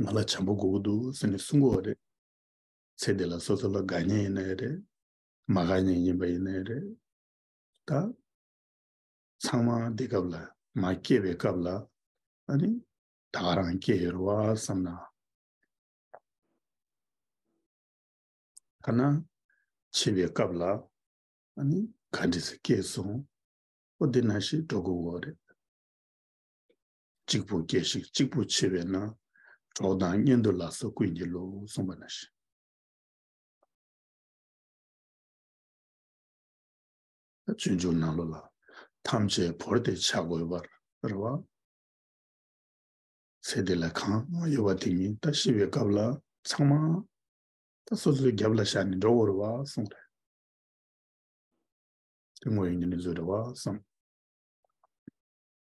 ང་ལ་བྱམས་པོ་དགོས་ཀྱི་འདུག་ཟེར་ནས་གསུང་གི་རེད། ཚེ་འདི་ལ་སོ་སོ་ལ་དགའ་ཉེ་ཡིན་ན་ཡང་རེད། མ་དགའ་ཉེ་ཡིན་པ་ཡིན་ན་ཡང་རེད། ད། ཚང་མ་འདི་སྐབས་ལ་མ་སྐྱེས་པའི་སྐབས་ལ། ཨ་ནི། ད་ག་རང་སྐྱེས་ཡོད་རེད་བ་བསམ་ན། ཐ་ན། འཆི་བའི་སྐབས་ལ། ཨ་ནི། ག་འདྲི་ཟེར་སྐྱེས་སོང། ཨོ་འདི་ན་ཞིག་འགྲོ་དགོས་ཀྱི་རེད། གཅིག་པུ་སྐྱེ་ཞིང་གཅིག་པུ་འཆི་བས་ན། གྲོགས་དང་གཉེན་དུ་ལགས་སོ་ཀུན་གྱི་བློ་གསུངས་པ་ན་བཞིན། བཙུན་ཆུང་ནང་ལོ་ལ་ཐམས་ཅད་བོར་ཏེ་བྱ་དགོས་པར་རེ་བ། ཚེ་འདི་ལ་གང་ཡོད་པ་དེ་ཉིད་ད་ཤི་བའི་སྐབས་ལ་ཚང་མ་ད་སོ་སོའི་རྒྱབ་ལ་བཞག་ནས་འགྲོ་དགོས་རེ་བ་གསུངས་པས། དེ་དངོས་ཡོད་ཉིད་ནས་བཟོད་རེ་བ་གསུངས།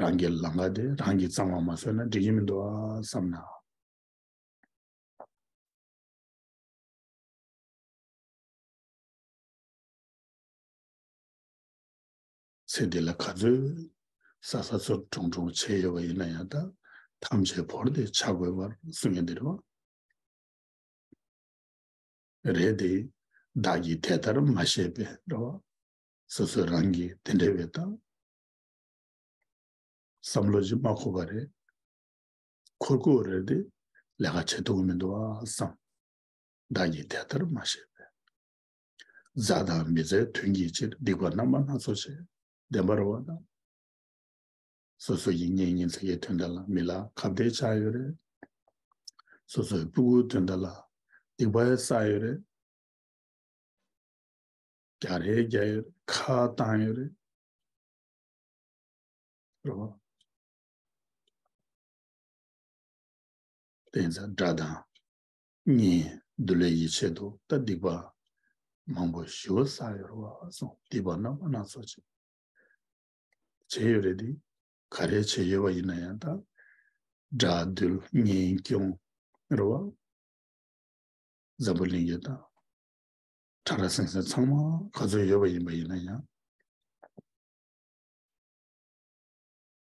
རང་གི་ལང་ཀ་དེ་རང་གིས་གཙང་བ་མ་བཟོས་ན་འགྲིག་གི་མི་འདུག་ཨ་བསམ་ན། ཚེ་འདི་ལ་ག་ཚོད་ས་ས་ཚོར་གྲོང་གྲོང་བྱས་ཡོད་པ་ཡིན་ན་ཡང་དག་ཐམས་ཅད་བོར་ཏེ་བྱ་དགོས་པར་གསུངས་ཡོད་འདི་རེད་བ། རེད་དེ། བདག་གིས་དེ་ལྟར་མ་བཤད་པས་རེད་བ། སོ་སོས་རང་གིས་དེ་འདྲ་བའི་དང། བསམ་བློ་ཅིག་མ་འཁོར་བ་རེད། འཁོར་དགོས་རེད་དེ། ལས་ཀ་བྱེད་ཐུབ་ཀྱི་མི་འདུག་ཨ་བསམ། བདག་ཉིད་དེ་ལྟར་མ་ཤེས་པས། མཛའ་དང་མི་མཛའི་དོན་གྱི་ཕྱིར་སྡིག་པ་རྣམ་པ་སྣ་ཚོགས་བྱས། བདེན་པར་བ་ན། སོ་སོ་ཡིན་ཉེ་ཉིན་མཚན་གྱི་དོན་དག་ལ་མི་ལ་ཁ་བརྡའི་ཆ་ཡོད་རེད། སོ་སོའི་སྤུ་གུའི་དོན་དག་ལ་སྡིག་པའི་ས་ཡོད་རེད། རྒྱ་རེད་རྒྱ་ཡོད་རེད་ཁ་བཏང་ཡོད་རེད། དེ་ཚ་འདྲ་དང་གཉིས་འདུ་ལས་ཡིད་ཆེས་དུ་ལྟ་སྡིག་པ་མང་པོ་ཞི་བ་ས་ཡོར་བ་སོང་སྡིག་པ་རྣམ་པ་སྣ་ཚོགས་བྱེད་བྱེད་ཡོད་རེད་དེ་ག་རེ་བྱེད་ཡོད་པ་ཡིན་ན་ཡང་དང་འདྲ་འདུལ་གཉིས་སྐྱོང་རོ་བ་འཛམ་བུ་གླིང་གི་དང་གྲྭ་ལ་སེང་ཟེར་ཚང་མ་ག་ཚོད་ཡོད་པ་ཡིན་པ་ཡིན་ན་ཡང།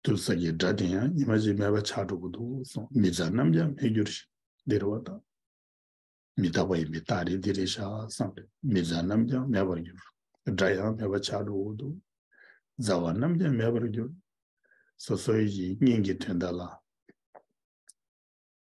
དུ་ས་གྱི་སྒྲ་དེ་ཡང་ཉི་མ་གཅིག་མེད་པ་ཆགས་འགྲོ་གི་འདུག་གསུངས་མི་ཚ་རྣམས་ཀྱང་མི་འགྱུར་ཞིང་འདིར་བ་དང། མི་རྟག་པ་ཡིན་པས་རྟག་རེད་འདི་རེད་ཤག་བསམ་པས་མི་ཚ་རྣམས་ཀྱང་མེད་པར་གྱུར། སྒྲ་ཡང་མེད་པ་ཆགས་འགྲོ་འོ་འདུག། ཚ་བ་རྣམས་ཀྱང་མེད་པར་གྱུར། སོ་སོའི་ཡིད་སྙིང་གི་དོན་དག་ལ།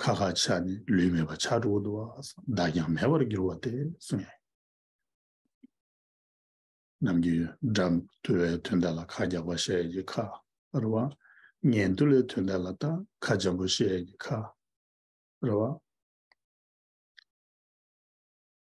ཁ་ཁ་ཆ་ནི་ལུས་མེད་པ་ཆགས་དྲུག་དུ་བདག་ཀྱང་མེད་པར་འགྱུར་བ་སྟེ་གསུངས་ཡོད། ནམ་རྒྱུན་སྒྲ་དུལ་བའི་དོན་དེ་ལ་ཁ་རྒྱགས་པ་ཞེས་ཀྱི་ཁ་ར་བ། ཉན་ཐོས་ལའི་དོན་དེ་ལ་ད་ཁ་འཇམ་པོ་ཞེས་ཀྱི་ཁ་ར་བ།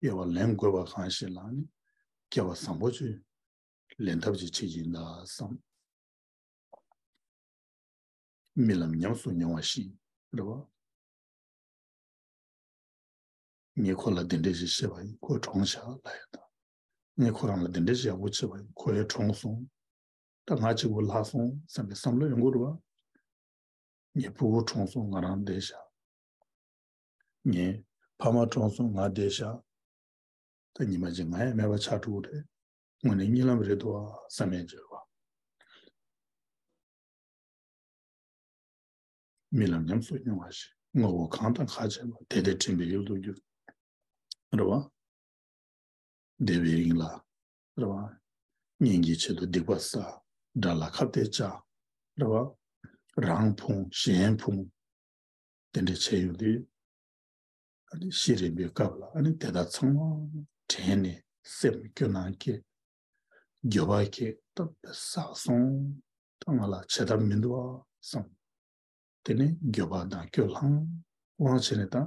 དབྱེ་བ་ལེན་དགོས་པ་གང་ཞིག་ལ་ནི་སྐྱེ་བ་བཟང་པོ་བཅུ་ལེན་ཐབས་ཀྱི་ཆེད་ཡིན་ལ་བསམ། རྨི་ལམ་ཉམས་སུ་མྱོང་བ་བཞིན་རེ་བ། ཉེ་འཁོར་ལ་དེ་འདྲས་ཞིག་ཤེས་པ་ཡིན་ཁོའི་གྲོང་བཞག་ལ་ཡོད་ད། ངས་ཁོ་རང་ལ་དེ་འདྲས་ཞིག་ཡག་པོ་བྱས་པ་ཡིན་ཁོ་ཡའི་གྲོང་སོང་ད་ང་གཅིག་པུ་ལྷག་སོང་བསམ་པའི་བསམ་བློ་ཡང་འགུར་རེ་བ། ངའི་སྤུ་བོ་གྲོངས་སོང་ང་རང་བསྡད་བཞག་ངའི་ཕ་མ་གྲོངས་སོང་ང་བསྡད་བཞག་ད་ཉི་མ་རྗེས་ང་ཡང་མེད་པ་ཆགས་འགྲོ་གི་རེད་དངོས་ནས་རྨྱི་ལམ་རེད་འདུག་ཨ་བསམ་མེད་རྗེས་བ། རྨི་ལམ་ཉམས་སུ་མྱོང་བ་ཞིག་ངོ་བོ་གང་དང་ག་བྱས་པ་དེ་དེ་དྲན་པའི་ཡུལ་དུ་གྱུར་རེད་བ། བདེ་བའི་དབྱིངས་ལ་རེ་བ། གཉེན་གྱི་ཆེད་དུ་སྡིག་པ་བསགས། དགྲ་ལ་ཁ་བརྡའི་ལྕག། རེ་བ། རང་ཕུང་གཞན་ཕུང། དེ་འདྲའི་བྱས་ཡོང་དུས། ཤི་རན་པའི་སྐབས་ལ་དེ་དག་ཚང་མ་དྲན་ནས་སེམས་སྐྱོ་སྣང་སྐྱེས། འགྱོད་པ་སྐྱེས། བསགས་སོང། ང་ལ་བྱེད་ཐབས་མི་འདུག་བསམ། དེ་ནས་འགྱོད་པ་དང་སྐྱོ་ལྷང་ལྷང་བྱས་ནས་དང།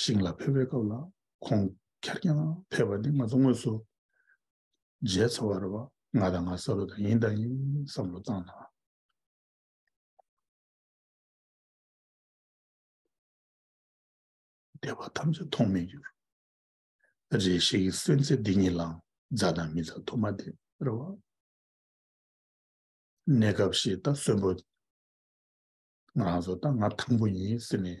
ཞིང་ལ་ཕེབས་པའི་སྐབས་ལ་ཁོང་གར་རྐྱང་ཕེབས་པ་འདི་ང་ཚོ་དངོས་སུ་མཇལ་ཚར་བ་རེད་བ་ང་དང་ང་ས་རུ་དང་ཡིན་དང་ཡིན་བསམ་བློ་བཏང་དང། བསྡད་པ་ཐམས་ཅད་མཐོང་མེད་གྱུར། རེ་ཞིག་གི་སེམས་ཚེ་འདི་ཉིད་ལའང་མཛའ་དང་མི་མཛའ་དུ་མ་སྟེ་རེད་བ། གནས་སྐབས་ཤིག་ད་གསོན་པོ་ང་རང་ཚོ་ད་ང་དང་པོ་ཡིན་ཟེར་ནས་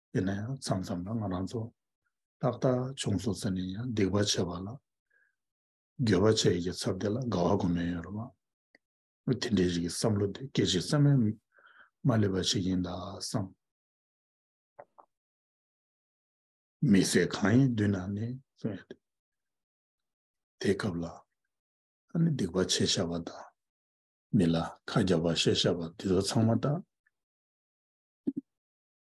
དེ་ནས་མཚམས་མཚམས་ལ་ང་རང་ཚོ་ཏག་ཏག་བྱུང་སོང་ཟེར་ནས་ཡང་སྡིག་པ་བྱས་པ་ལ་དགེ་བ་བྱས་ཀྱི་ཚབ་དེ་ལ་དགའ་བ་གོ་མེད་ཡོད་རེད་མ་གཏོགས་དེ་འདྲའི་རིགས་བསམ་བློ་དེ་སྐད་ཅིག་ཙམ་ཡང་མ་སླེབས་པ་ཞིག་ཡིན་ད་བསམ། མི་ཟད་གང་ཡིན་མདུན་ན་ནས་གསུངས་ཡོད་དེ། དེའི་སྐབས་ལ་ཨ་ནི་སྡིག་པ་བྱས་བཞག་པ་དང་མི་ལ་ཁ་རྒྱག་པ་བཤད་བཞག་པ་འདི་ཚོ་ཚང་མ་ཏག་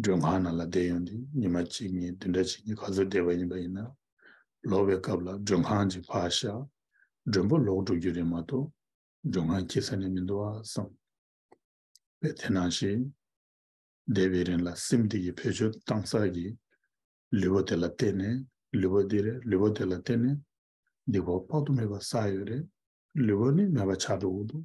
སྒྲོལ་མཁར་ནང་ལ་བསྡད་ཡོང་དུས་ཉི་མ་གཅིག་གཉིས་བདུན་ཕྲག་གཅིག་གི་ག་ཚོད་བསྡད་པ་ཡིན་པ་ཡིན་ན། ལོག་པའི་སྐབས་ལ་མགྲོན་ཁང་གཅིག་ཕར་བཞག་མགྲོན་པོ་ལོག་འགྲོ་རྒྱུ་རེད་མ་གཏོགས་མགྲོན་ཁང་སྐྱིད་ས་ནས་མི་འདུག་ཨ་བསམ། བས་དེ་ནང་བཞིན་བསྡད་པའི་རིང་ལ་སེམས་སྡིག་གིས་བོད་ཆོས་གཏང་ཚར་གི། ལུས་པོ་དེ་ལ་བལྟས་ནས་ལུས་པོ་འདི་རེད་ལུས་པོ་དེ་ལ་བལྟས་ནས་སྡིག་པ་དཔག་ཏུ་མེད་པ་བསགས་ཡོད་རེད་ལུས་པོ་ནི་མེད་པ་ཆགས་འགྲོ་འུ་འདུག་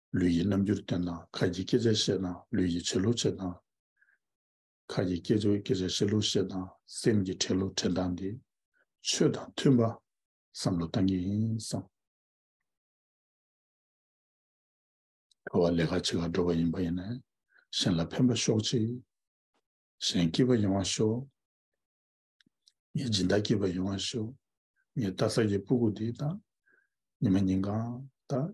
ལུས་ཀྱི་རྣམ་འགྱུར་སྟོན་དང་ཁ་ཀྱི་སྐད་ཆ་བཤད་དང་ལུས་ཀྱི་བྱེད་ལུགས་བྱེད་སྟངས། ཁ་ཀྱི་སྐད་ཆ་བཤད་ལུགས་བཤད་སྟངས་སེམས་ཀྱི་དྲན་ལུགས་དྲན་སྟངས་ཏེ། ཆོས་དང་མཐུན་པ་བསམ་བློ་གཏང་གི་ཡིན་བསམ། ཁ་བ་ལས་ཁ་ཕྱི་ཁར་འགྲོ་བ་ཡིན་པ་ཡིན་ནས་གཞན་ལ་ཕན་པ་ཤོག་ཅིག། གཞན་སྐྱིད་པ་ཡོང་བ་ཤོག། ངའི་སྦྱིན་བདག་སྐྱིད་པ་ཡོང་བ་ཤོག། ངའི་རྟ་ཟ་གི་སྤུ་གུ་འདི་དང། ཉི་མ་ཉིན་གང་དང།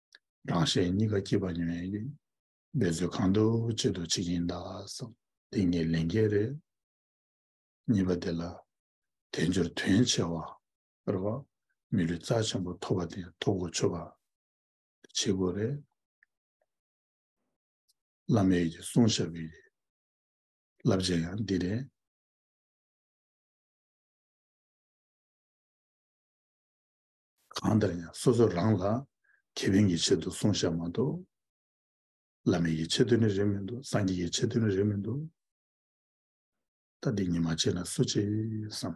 རང་གཞན་གཉིས་ཀ་སྐྱིད་པ་ཉོན་ཡོད་ཀྱི། འབད་རྩོལ་གང་འདུག་ཅི་འདུག་བྱེད་ཀྱིན་གདའ་བསམ། འདི་ངའི་ལས་འགན་རེད། གཉིས་པ་དེ་ལ། དལ་འབྱོར་དོན་ཆེ་བ། རེད་བ། མི་ལུས་རྩ་ཆེན་པོ་ཐོབ་པ་དེ་ཐོབ་གོ་ཆོད་པ། བྱེད་དགོས་རེད། བླ་མས་ཡོད་ཀྱི་གསུང་ཞབས་ཀྱི་རེད། བསླབ་བྱ་ཡང་འདི་རེད། གང་ལྟར་ཡང་སོ་སོ་རང་ལ་ཁེ་ཕན་གྱི་ཆེད་དུ་གསུང་བཤད་མ་གཏོགས། བླ་མེད་ཀྱི་ཆེད་དུ་ནི་རེད་མི་འདུག་སངས་རྒྱས་ཀྱི་ཆེད་དུ་ནི་རེད་མི་འདུག། ད་འདི་གཉིས་མ་བྱས་ན་སུ་བྱེད་བསམ།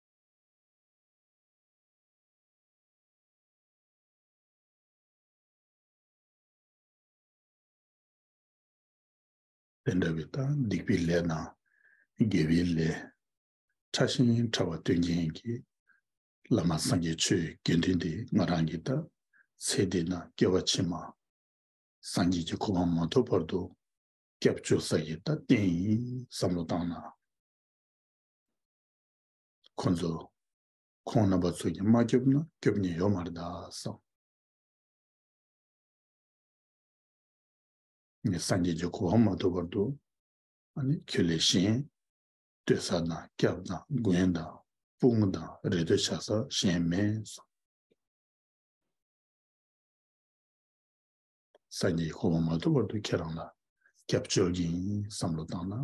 དེ་འདྲ་བའི་སྟངས་སྡིག་པའི་ལས་རྣམས་དགེ་བའི་ལས། ཕྲ་ཞིང་ཕྲ་བ་སྟོན་མཁན་གྱི། བླ་མ་སངས་རྒྱས་ཆོས་དགེ་འདུན་འདི་ང་རང་གིས་བཏབ། ཚེ་འདི་ན་སྐྱེ་བ་ཕྱི་མ། སངས་རྒྱས་ཀྱི་གོ་འཕང་མ་ཐོབ་བར་དུ། སྐྱབས་བཅོལ་ས་ཡི་རྟག་བརྟན་ཡིན་བསམ་བློ་བཏང་ན། ཁོ་ཚོ། ཁོང་རྣམ་པ་ཚོ་གྱིས་མ་སྐྱོབ་ན་སྐྱོབ་ཉེན་ཡོད་མ་རེད་དཱ་བསམ། ངས་སངས་རྒྱས་ཀྱི་གོ་བ་མ་ཐོབ་བར་དུ། ཁྱོད་ལས་གཞན། ལྟོས་ས་དང་སྐྱབས་དང་མགོན་དང་སྤུན་དང་རེ་ལྟོས་བྱ་ས་གཞན་མེད་བསམ། སངས་རྒྱས་ཀྱི་གོ་བ་མ་ཐོབ་བར་དུ་ཁྱེད་རང་ལ་སྐྱབས་བཅོལ་གྱིན་བསམ་བློ་བཏང་ན།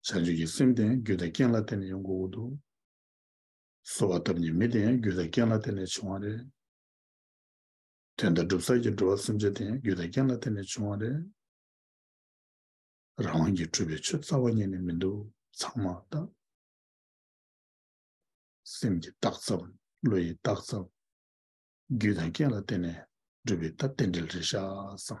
བྱ་སྤྱོད་ཀྱི་སེམས་དེ་རྒྱུ་དང་རྐྱེན་ལ་བརྟེན་ནས་ཡོང་གི་འོ་འདུག། གསོ་བ་བཏབ་ཉིན་མི་དེ་རྒྱུ་དང་རྐྱེན་ལ་བརྟེན་ནས་བྱུང་བ་རེད། དོན་དང་སྒྲུབ་ཚར་གྱི་འགྲོ་བ་སེམས་ཅན་དེ་རྒྱུ་དང་རྐྱེན་ལ་བརྟེན་ནས་བྱུང་བ་རེད། རང་དབང་གིས་འཁྲུལ་པའི་ཆོས་རྩ་བ་ཉིད་ནས་མི་འདུག་ཚང་མ་རྟག། སེམས་ཀྱི་རྟགས་ཙམ་བློ་ཡི་རྟགས་ཙམ། རྒྱུ་དང་རྐྱེན་ལ་བརྟེན་ནས་སྒྲུབ་པའི་རྟགས་རྟེན་འབྲེལ་རེད་ཤག་བསམ།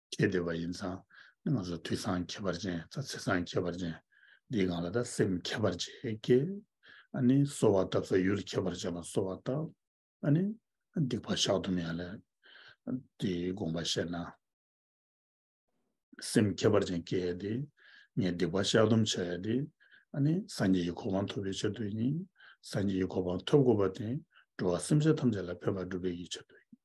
ཁྱེད་བདེ་བ་ཡིན་ཙང་ང་ཚོ་དུས་སང་ཁྱད་པར་ཅན་ཚ་ཚེ་སང་ཁྱད་པར་ཅན་འདིས་གང་ལ་ད་སེམས་ཁྱད་པར་ཅན་སྐྱེ། ཨ་ནི་གསོ་བ་བཏབ་ས་ཡུལ་ཁྱད་པར་ཅན་ལ་གསོ་བ་བཏབ། ཨ་ནི་སྡིག་པ་བཤགས་དུ་མེད་ཡ་ལས་དེའི་དགོངས་པ་བཤད་ན། སེམས་ཁྱད་པར་ཅན་སྐྱེ་ཡ་དེ་ངས་སྡིག་པ་བཤགས་སྡོམ་བྱ་ཡ་དེ་ཨ་ནི་སངས་རྒྱས་ཀྱི་གོ་འཕང་ཐོབ་པའི་ཕྱིར་དུ་ཡིན། སངས་རྒྱས་ཀྱི་གོ་འཕང་ཐོབ་དགོས་པ་དེ་འགྲོ་བ་སེམས་ཅན་ཐམས་ཅད་ལ་ཕན་པ་སྒྲུབ་པའི་ཕྱིར་དུ་ཡིན།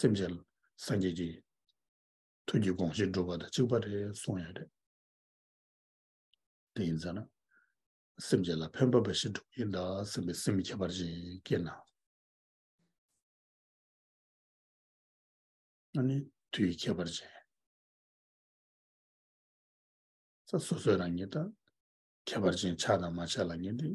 སེམས་ཅན་སངས་རྒྱས་ཀྱི་ཐུགས་ཀྱི་དགོངས་བཞེད་སྒྲུབ་པ་དང་གཅིག་པ་རེད་གསུངས་ཡོད་རེད། དེ་ཡིན་ཟེར་ན། སེམས་ཅན་ལ་ཕན་པ་འབའ་ཞིག་སྒྲུབ་ཀྱིན་གདའ་སེམས་པའི་སེམས་ཁྱད་པར་ཅན་སྐྱེས་ན། ང་ནི་དུས་ཀྱི་ཁྱད་པར་ཅན། ས་སོ་སོའི་རང་ཉིད་དང་ཁྱད་པར་ཅན་ཆགས་དང་མ་ཆགས་ལ་ཉེ་སྟེ།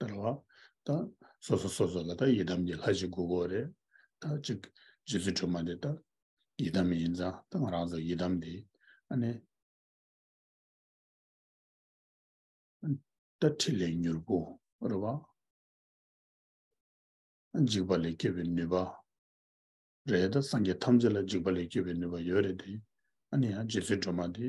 དེ་ལ་ད་སོ་སོ་སོ་སོ་ལ་ད་ཡི་དམ་གྱི་ལྷ་ཞིག་དགོས་དགོས་རེད། ད་ཅིག་རྗེ་བཙུན་སྒྲོལ་མ་དེ་ད་ཡི་དམ་ཡིན་ཙང་ད་ང་རང་ཚོ་ཡི་དམ་དེ་ཨ་ནེ། ད་ཁྲི་ལས་མྱུར་བུ་རེད་བ། འཇིགས་པ་ལས་སྐྱོབ་པའི་ནུས་པ་རེད་ད་སངས་རྒྱས་ཐམས་ཅད་ལ་འཇིགས་པ་ལས་སྐྱོབ་པའི་ནུས་པ་ཡོད་རེད་དེ་ཨ་ནེ་ཡང་རྗེ་བཙུན་སྒྲོལ་མ་དེ།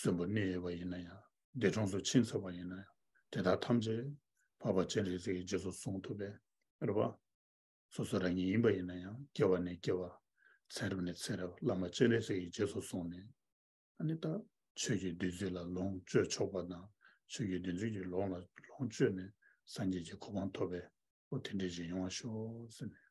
གསོན་པོ་གནས་ཡོད་པ་ཡིན་ན་ཡང་འདས་གྲོངས་སུ་ཕྱིན་ཚར་བ་ཡིན་ན་ཡང་དེ་དག་ཐམས་ཅད་འཕགས་པ་སྤྱན་རས་གཟིགས་ཀྱི་རྗེས་སུ་བཟུང་ཐུབ་པས་རེད་པ། སོ་སོ་རང་ཉིད་ཡིན་པ་ཡིན་ན་ཡང་སྐྱེ་བ་ནས་སྐྱེ་བ། ཚེ་རབས་ནས་ཚེ་རབས་བླ་མ་སྤྱན་རས་གཟིགས་ཀྱི་རྗེས་སུ་བཟུང་ནས། ཨ་ནི་ད། ཆོས་ཀྱི་བདུད་རྩི་ལ་ལོངས་སྤྱོད་ཆོག་པ་དང་ཆོས་ཀྱི་བདུད་རྩི་གྱི་ལོངས་ལ་ལོངས་སྤྱོད་ནས་སངས་རྒྱས་ཀྱི་གོ་འཕང་ཐོབ་པས་འོ་དེ་འདྲའི་རྗེས་ཡོང་བ་ཤོག་ཟེར་ནས།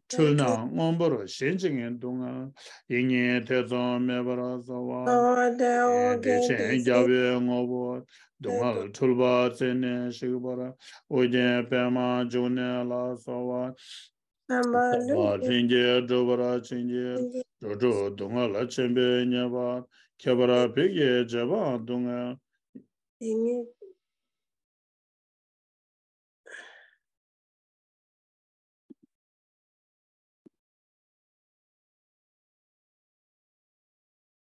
འཁྲུལ་སྣང་སྔོན་པོར་ཞེན་ཅིང་ངན་འདུག་ངང་ཡིད་གཉིས་ཐེ་ཚོམ་མེད་པར་རྩོལ་བ། བདེ་ཆེན་རྒྱ་བོད་ངོ་བོ་སྡུག་བསྔལ་འཁྲུལ་པ་རྩད་ནས་བཤིག་པར་ཨོ་རྒྱན་པདྨ་འབྱུང་གནས་ལ་སོགས་བ། རྣམ་པར་ལྷུན་གྱིས་གྲུབ་པར་བྱིན་གྱིས་འགྲོ་དྲུག་སྡུག་བསྔལ་ཆེན་པོའི་ཉེས་པ་ཁྱད་པར་བོད་ཀྱི་རྗེ་འབངས་སྡུག་བསྔལ། ཡིད་གཉིས།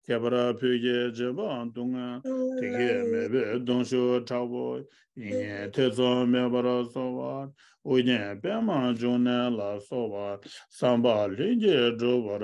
ཁྱད་པར་བོད་རྒྱལ་བྱེད་པ་སྡུག་བསྔལ་དེ་ཁས་མེད་པའི་གདུང་ཤུགས་དྲག་པོ་ཡིན་ངེས་ཐེ་ཚོམ་མེད་པར་གསོལ་བ། ཨོ་རྒྱན་པདྨ་འབྱུང་གནས་ལ་སོགས་པ་བསམ་པ་ལྷུན་གྱིས་འགྲུབ་པར།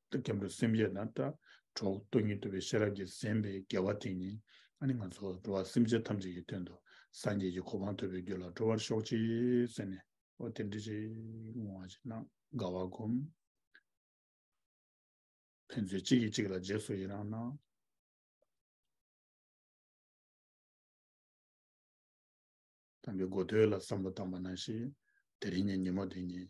ཏུ་སྐྱབས་འགྲོ་སེམས་བསྐྱེད་དང་ལྟ་གྲོགས་སྟོང་ཉིད་དུ་བའི་ཤེས་རབ་ཀྱིས་གཟན་པའི་དགེ་བ་དེ་ཉིད་ཨ་ནི་ང་ཚོ་འགྲོ་བ་སེམས་ཅན་ཐམས་ཅད་ཀྱི་དོན་དུ་སངས་རྒྱས་ཀྱི་གོ་འཕང་ཐོབ་པའི་རྒྱུ་ལ་འགྲོ་བར་ཤོག་ཅིག་ཟེར་ནས། ཨོ་དེ་འདྲི་ཅིག་བསྔོ་བ་ཅིག་གནང་དགའ་བར་བསྒོམ། ཕན་ཚུན་གཅིག་གིས་གཅིག་ལ་རྗེས་སུ་ཡི་རང་གནང། དམ་པའི་སྒོ་དོད་ལ་བསམ་བློ་བཏང་བ་ན་ཞིག་དེ་རིང་ཉིན་ཉིན་མོ་དེ་ཉིད།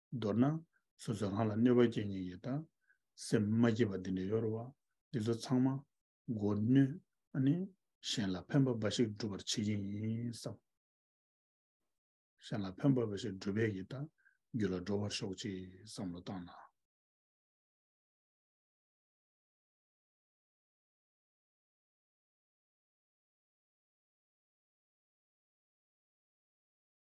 མདོར་ན། སོ་སོའི་ལྷ་ལ་གནོད་པ་སྐྱེ་ཉེན་ཡོད། སེམས་མ་སྐྱིད་པ་འདི་འདྲ་ཡོད་རེད་བ། འདི་ཚོ་ཚང་མ། མགོ་གནོན། ཨ་ནི། གཞན་ལ་ཕན་པ་འབའ་ཞིག་སྒྲུབ་པར་བྱེད་ཀྱིན་ཡིན་བསམ། གཞན་ལ་ཕན་པ་འབའ་ཞིག་སྒྲུབ་པས་ཡི་དྭགས། རྒྱུད་ལ་འགྲོ་བར་ཤོག་ཅེས་བསམ་བློ་བཏང་ན།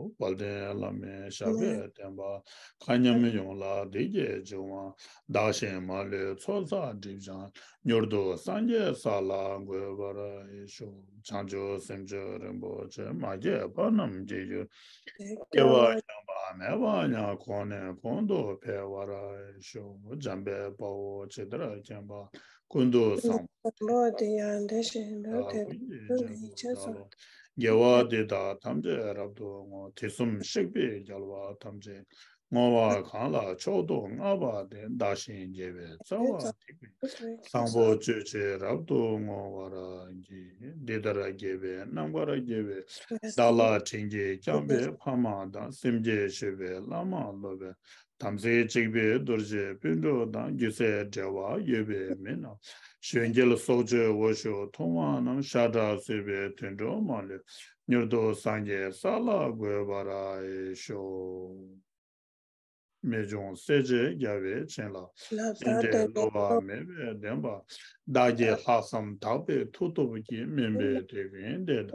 དཔལ་ལྡན་བླ་མའི་ཞབས་པད་བརྟན་པ། མཁའ་མཉམ་ཡོངས་ལ་བདེ་སྐྱིད་འབྱུང། བདག་གཞན་མ་ལུས་ཚོགས་བསགས་སྒྲིབ་སྦྱངས། མྱུར་དུ་སངས་རྒྱས་ས་ལ་འགོད་པར་ཤོག། བྱང་ཆུབ་སེམས་མཆོག་རིན་པོ་ཆེ་མ་སྐྱེས་པ་རྣམས་ཀྱི་ཡུལ། སྐྱེ་བ་ཡངས་པ་མེད་པ་ཡང་གོང་ནས་གོང་དུ་འཕེལ་བར་ཤོག། འཇམ་པའི་དཔའ་བོ་ཇི་ལྟར་མཁྱེན་པ། སྐུ་མདོག་བཟང་པོ་སྟེ། སྐུ་མདོག་དེ་ཡང་དེ་བཞིན་དུ་དེ་དག་དེ་ལ་ཡིད་ཆེས་སོ། རྒྱལ་བ་དེ་དག་ཐམས་ཅད་རབ་ཏུ་བསྔོ། དེ་གསུམ་གཤེགས་པས་རྒྱལ་བ་ཐམས་ཅད་བསྔོ་བ་གང་ལ་མཆོག་ཏུ་མངའ་བ་དེ་བདག་ཞིང་རྒྱས་པའི་རྩ་བ་ཐིག་པའི་བཟང་པོ་སྤྱོད་ཅེས་རབ་ཏུ་བསྔོ་བར་བགྱི། འདི་ལྟར་རྒྱས་པའི་རྣམ་པར་རྒྱལ་བའི་བདག་ལ་བྲིན་གྱིས་བརྐྱངས་པའི་ཕ་མ་དང་སེམས་བསྐྱེད་མཆོད་པའི་བླ་མ་སློབ་པའི་དམ་ཚིག་གཅིག་པའི་རྡོ་རྗེ་སྤུན་གྲོགས་དང་སྒྱུ་རྩལ་འབྲེལ་བ་ཡོད་པའི་མི་རྣམས་གཞོན་སྐྱེས་སྲོག་གཅོད་འོ་ཞོ་འཐུང་བ་རྣམས་ཤ་ཁྲག་གསོད་པའི་དུད་འགྲོ་མ་ལུས་མྱུར་དུ་སངས་རྒྱས་ས་ལ་འགོད་པར་ཨེ་ཤོག། རྨད་བྱུང་གསལ་བྱེད་རྒྱལ་བས་བྱིན་རླབས་བརྟན་ཏེ་བསླུ་བ་མེད་པའི་བདེན་པ་བདག་གི་ལྷག་བསམ་དག་པའི་མཐུ་སྟོབས་ཀྱིས་སྨིན་པའི་དེ་ཀུན་འདས།